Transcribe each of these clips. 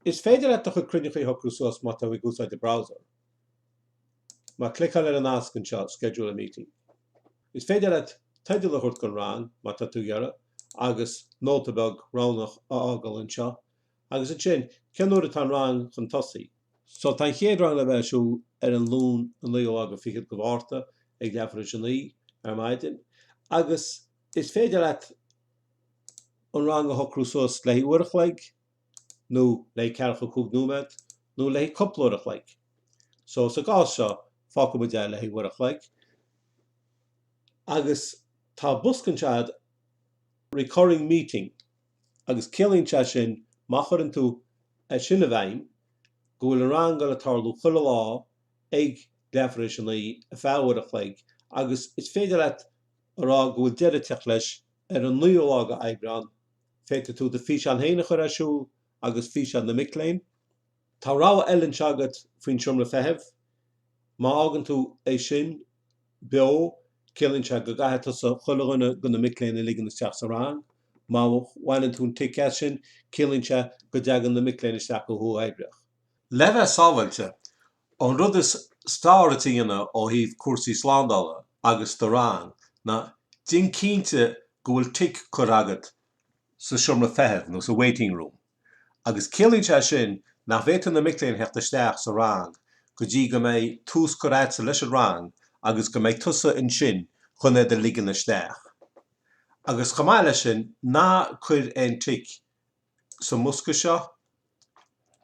Is féidir leat do chuid cruinneachaí a shocrú suas má tá tú ag úsáid do browser. Má chliceálann ar an nasc anseo schedule a meeting. Is féidir leat teideal a thabhairt don rang má tá tú ag iarraidh agus nóta beag roghnach a fhágáil anseo agus ansin cén uair atá an rang chun tosú. So tá an chéad rang le bheith ar siúl ar an Luan an naoú lá fichead de Mhárta ag leath tar éis a naoi ar maidin agus is féidir leat an rang a shocrú suas le haghaidh uair a chloig, nó le haghaidh ceathracha a cúig nóiméad, nó le haghaidh cúpla uair a chloig. So, sa gcás seo, fágfaidh muid é le haghaidh uair a chloig. Agus tá bosca anseo agat, Recurring Meeting, agus ciallaíonn sé sin má chuireann tú é sin i bhfeidhm, go bhfuil an rang ag goil ag tarlú chuile lá ag leath tar éis a naoi, ar feadh uair a chloig, agus is féidir leat a rá go bhfuil deireadh ag teacht leis ar an naoú lá de Aibreán, Féadfaidh tú do fhíseán féin a chur ar siúl agus físeáin na mic léinn. Tá rogha eile anseo agat faoin seomra feithimh. Má fhágann tú é sin beo, ciallaíonn sé go gcaithfidh tusa chuile dhuine de na mic léinn a ligean isteach sa rang. Má bhaineann tú an tic as sin, ciallaíonn sé go dtagann na mic léinn isteach go huathoibríoch. Le bheith sábháilte, An rud is fearr duit a dhéanamh ó thaobh cúrsaí slándála agus do rang ná déanamh cinnte go bhfuil tic curtha agat sa seomra feithimh nó sa waiting room agus ciallaíonn sé sin nach bhféadfaidh na mic léinn theacht isteach sa rang go dtí go mbeidh tús curtha agatsa leis an rang agus go mbeidh tusa ansin chun iad a ligean isteach agus chomh maith leis sin ná cuir aon tic sa mbosca seo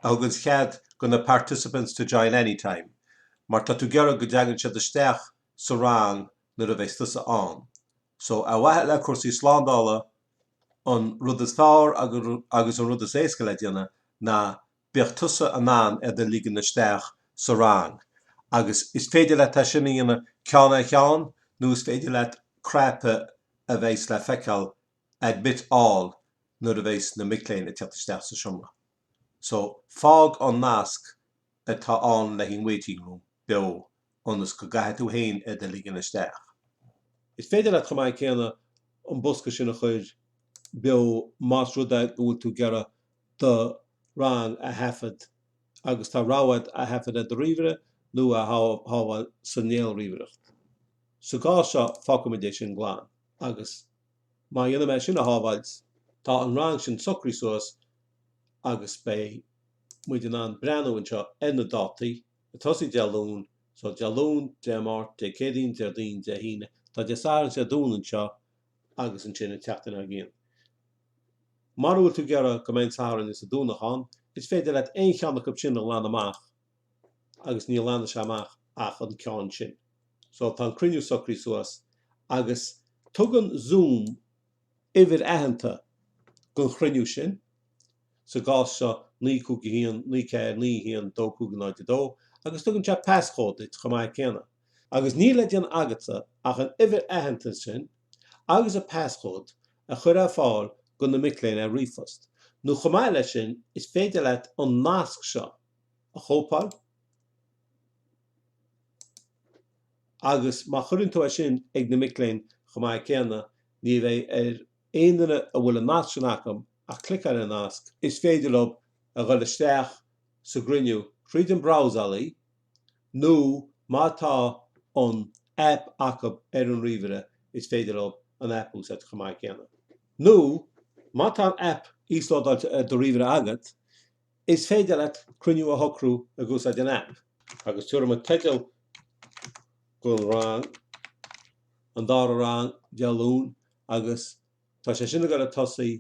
a thugann cead do na participants to join any time mar tá tú ag iarraidh go dtagann siad isteach sa rang nuair a bheas tusa ann. So ar mhaithe le cúrsaí slándála an rud is fearr agus an rud is éasca le déanamh ná go mbeadh tusa in ann iad a ligean isteach sa rang agus is féidir leat é sin a dhéanamh ceann ar cheann nó is féidir leat cnaipe a bheas le feiceáil admit all nuair a bheas na mic léinn ag teacht isteach sa seomra. So, fág an nasc atá ann le haghaidh an waiting room beo ionas go gcaithfidh tú féin iad a ligean isteach. Is féidir leat chomh maith céanna an bosca sin a chur beo más rud é go bhfuil tú ag iarraidh do rang a thaifead agus tá rogha agat é a thaifead ar do ríomhaire nó é a shábháil sa néalríomhaireacht. Sa gcás seo, fágfaimid é sin glan agus. Má dhéanann mé é sin a shábháilt, tá an rang sin socraithe suas agus beidh muid in ann breathnú anseo ar na dátaí, ag tosaí Dé Luain, so Dé Luain, Dé Máirt, Dé Céadaoin, Déardaoin, Dé hAoine, tá Dé Sathairn is Dé Domhnaigh anseo agus ansin an tseachtain dár gcionn. Mara bhfuil tú ag iarraidh go mbeadh an Satharn is an Domhnach ann, is féidir leat aon cheann acu sin a ghlanadh amach. agus ní ghlanann sé amach ach an ceann sin. So, tá an cruinniú socraithe suas agus tugann Zoom uimhir aitheanta gon chruinniú sin, sa gcás seo, naoi cúig a haon, naoi ceathair, naoi a haon, dó cúig a náid a dó, agus tugann sé paschód duit chomh maith céanna. Agus níl le déanamh agatsa ach an uimhir aitheanta sin agus an paschód a chur ar fáil go na mic léinn ar ríomhphost, nó chomh maith leis sin, is féidir leat an nasc seo a. a chóipeáil agus má chuireann tú é sin ag na mic léinn chomh maith céanna, ní bheidh ar aon duine a bhfuil an nasc sin acu ach cliceáil ar an nasc, is féidir leo a dhul isteach sa gcruinniú tríd an brabhsálaí nó má tá an aip acu ar an ríomhaire, is féidir leo an aip a úsáid chomh maith céanna. Nó má tá an aip íoslódáilte ar do ríomhaire agat, Is féidir leat cruinniú a shocrú ag úsáid an aip agus tabharfaidh muid teideal don rang, an dara rang Dé Luain agus tá sé sin ag goil ag tosaí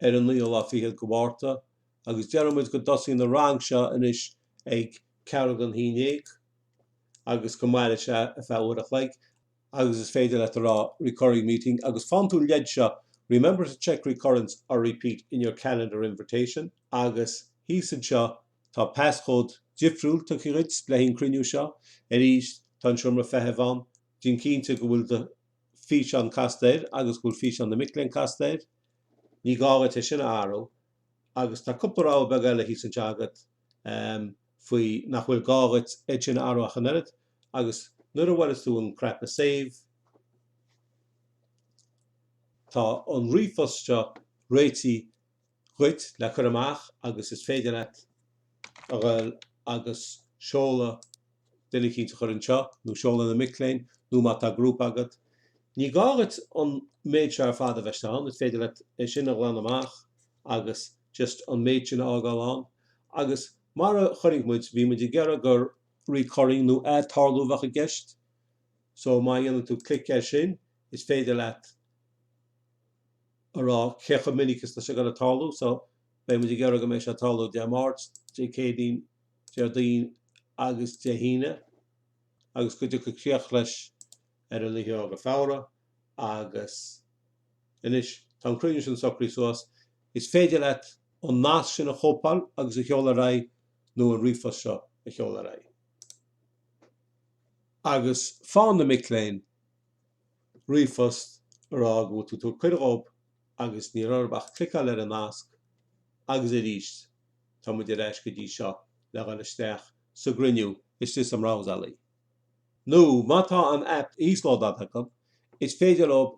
ar an naoú lá fichead go Mhárta agus déarfaidh muid go dtosaíonn an rang seo anois ag ceathrú gon haon déag agus go mairfidh sé ar feadh uair a chloig. agus is féidir leat a rá recurring meeting agus faigheann tú an leid seo remember to check recurrence or repeat in your calendar invitation agus thíos anseo tá paschód difriúil tugtha dhuit le haghaidh an cruinniú seo arís tá an seomra feithimh ann déan cinnte go bhfuil do físeán casta air agus go bhfuil físeán na mic léinn casta air ní gá agat é sin a athrú agus tá cúpla rogha beag eile thíos anseo agat faoi nach bhfuil gá agat iad sin a athrú ach an oiread. Agus nuair a bhrús tú an cnaipe save, tá an ríomhphost seo réitithe dhuit le cur amach agus is féidir leat a ghoil agus seoladh duine eicínt a chur anseo nó seoladh na mic léinn nó má tá grúpa agat, ní gá agat an méid seo ar fad a bheith ann, is féidir leat é sin a ghlanadh amach agus just an méid sin a fhágáil ann. Agus mar a chonaic muid, bhí muid ag iarraidh gur. recurring nó ath-tarlú a bheadh i gceist so má dhéanann tú click air sin is féidir leat a rá cé chomh minic is atá sé ag gabháil a tarlú so beidh muid ag iarraidh go mbeidh sé ag tarlú Dé Máirt, Dé Céadaoin, Déardaoin agus Dé hAoine agus go dtiocfaidh críoch leis ar an 20ú de Feabhra agus anois tá an cruinniú sin socraithe suas is féidir leat an nasc sin a chóipeáil agus a sheoladh ar aghaidh nó an ríomhphost seo a sheoladh ar aghaidh. Agus faigheann na mic léinn ríomhphost a rá go bhfuil tú ag tabhairt cuireadh dhób agus níl orthub ach cliceáil ar an nasc agus arís tá muid ar ais go dtí seo le dhul isteach sa gcruinniú istigh sa mbrabhsálaí. Nó má tá an aip íoslódáilte acu is féidir leob